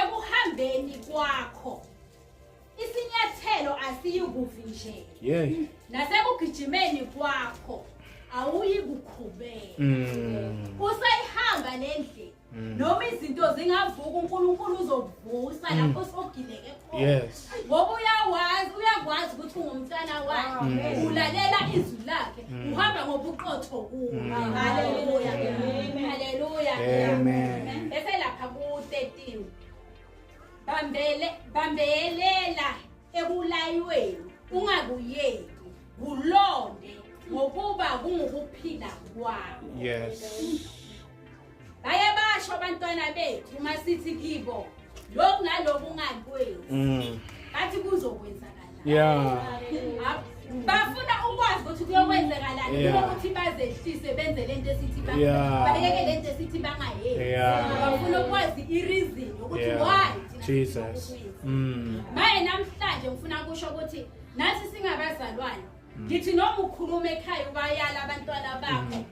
ekuhambeni kwakho isinyathelo asiyikuvi nje yeah. nasekugijimeni kwakho awuyi kukhubeka mm. usayihamba le ndlela mm. noma izinto zingavuka unkulunkulu uzokuvusa mm. lapho sogileke khona yes. ngoba uyawazi uyakwazi ukuthi ungumntana wakhe mm. ulalela izwi lakhe mm. uhamba ngobuqotho kuwo mm. haleluya haleluya amen bese lapha ku-13 bambele bambelela ekulayweni ungakuyeki kulonde ngokuba kungukuphila kwami yes baye basho abantwana bethu uma sithi kibo lokhu nalokhu ungakwenzi mm. bathi kuzokwenzakala yeah bafuna ukwazi ukuthi kuyokwenzakalani kunokuthi bazehlise benze lento esithi bayeke lento esithi bangayenzi bafuna ukwazi ireason ukuthi why Jesus mm. maye namhlanje ngifuna kusho ukuthi nathi singabazalwane ngithi noma ukhuluma ekhaya ubayala abantwana bakho mm.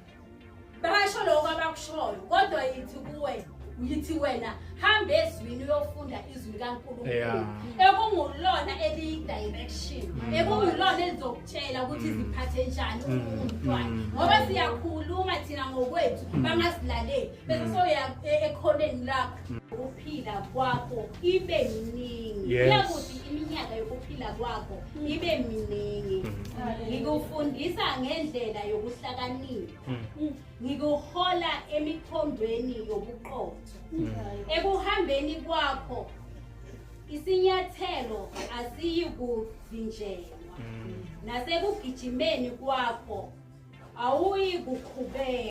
basho lokho abakushoyo kodwa yithi kuwe yithi wena hamba ezwini uyofunda izwi likaNkulunkulu ekungulona eliyidirection mm. ekungulona elizokutshela ukuthi mm. ziphathe njani mm. umntwana ngoba siyakhuluma thina ngokwethu bangasilaleli bese soya e-, ekhoneni lakho ukuphila kwakho ibe yiningi kuyakuthi iminyaka yokuphila kwakho ibe miningi ngikufundisa ngendlela yokuhlakanipha mm. ngikuhola emikhondweni yobuqotho mm. ekuhambeni kwakho isinyathelo asiyi kuvinjelwa mm. nasekugijimeni kwakho awuyi kukhubeka